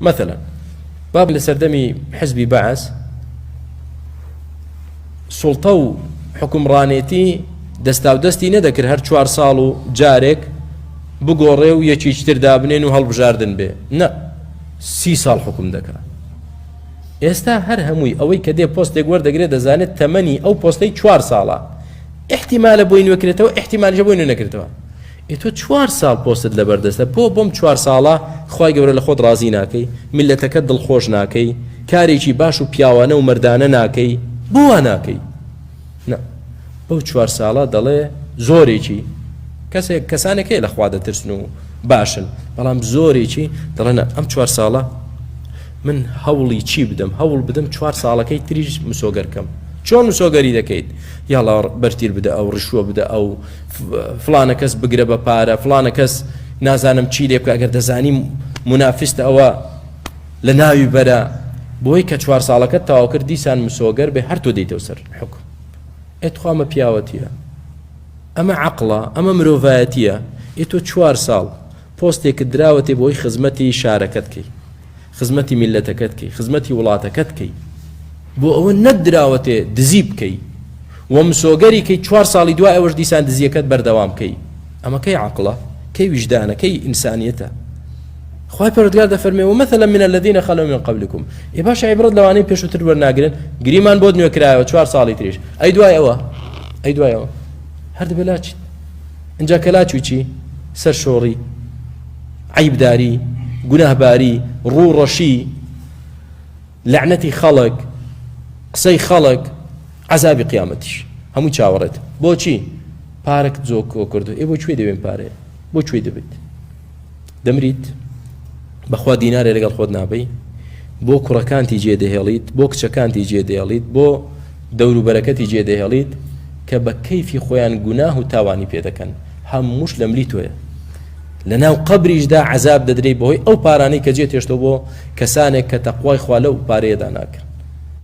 مثلا باب لە سەردەمی حزبی بەعس سوڵتە و حکومڕانێتی دەستا و دەستی نەدەکرد هەر چوار ساڵ و جارێک بگۆڕێ و یەکیچتر دابنێن و هەڵبژاردن بێ نە سی ساڵ حکوم دەکات ئێستا هەر هەمووی ئەوەی کە دێ پۆستێک وەردەگرێت دەزانێت تەمەنی ئەو پۆستەی چوار ساڵە احتیمالە بۆی نوێکرێتەوە احتیمالژە بۆی نوێ نەکرێتەوە ئێ تۆ چوار ساڵ پۆستت لەبەر دەستە بۆ بەم چوار ساڵە خوای گەورە لە خۆت ڕازی ناکەی میللەتەکەت دڵخۆش ناکەی کارێکی باش و پیاوانە و مەردانە ناکەی بۆ وا ناکەی نا بەو چوار ساڵە دەڵێ زۆرێکی کەسێک کەسانێک هەیە لە خوا دەترسن و باشن بەڵام زۆرێکی دەڵێن ئەم چوار ساڵە من هەوڵی چی بدەم هەوڵ بدەم چوار ساڵەکەی تریش مسۆگەرکەم چۆن مسۆگەری دەکەیت یاڵا بەرتیر بدە ئەو ڕشوە بدە ئەو فڵانە کەس بگرە بە پارە فڵانە کەس نازانم چی لێ بکە گەر دەزانی منافستە ئەوە لە ناوی بەرە بۆی کە چوار ساڵەکە تاواکرد دیسان مسۆگەر بێ هەر تۆ دەیتەوە سەر حکم ئەتخوامە پیاوەتیە ئەمە عقلە ئەمە مرۆڤایەتیە ئێ تۆ چوار ساڵ پۆستێکت دراوەتێ بۆی خزمەتی شارەکەت کەی خزمەتی میللەتەکەت کەی خزمەتی وڵاتەکەت کەی بۆ ئەوە نەت دراوەتێ دزی بکەی و مسۆگەری کەی چوار ساڵی دوای ئەوەش دیسان دزیەکەت بەردەوام کەی ئەمە کەی عقلە کەی ویژدانە کەی ئینسانیەتە خوای پەرۆتگار دەفەرمێ و مەثلا من الذين خلوا من قبلكم ئێ باش عیبرەت لەوانەی پێشوتر وەرناگرن گریمان بۆت نوێ کرایەوە چوار ساڵی تریش ئەی دوای ئەوە ئەی دوای ئەوە هەردبێ لاچیت اینجا کە لاچوی چی سەر شۆڕی عەیبداری، گوناهباری، ڕوو ڕەشی، لەعنەتی خەڵک، قسەی خەڵک، عەزابی قیامەتیش هەمووی چاوەڕێت. بۆچی؟ پارەکت زۆر کۆکردووە. ئێ بۆ کوێ دەوێ ئەم پارەیە؟ بۆ کوێ دەبەیت؟ دەمریت؟ بەخوا دینارێ لەگەڵ خۆت نابەی؟ بۆ کوڕەکانتی جێدەهێڵیت؟ بۆ کچەکانتی جێدەهێڵیت؟ بۆ دەوروبەرەکەتی جێ دەهێڵیت کە بە کەیفی خۆیان گوناه و تاوانی پێ دەکەن، هەمووش لە ملی تۆیە. لە ناو قەبریشدا عەزاب دەدرێی بەهۆی ئەو پارانەی کە جێ تێشتۆ بۆ کەسانێک کە تەقوای خوا لەو پارەیەدا ناکەن.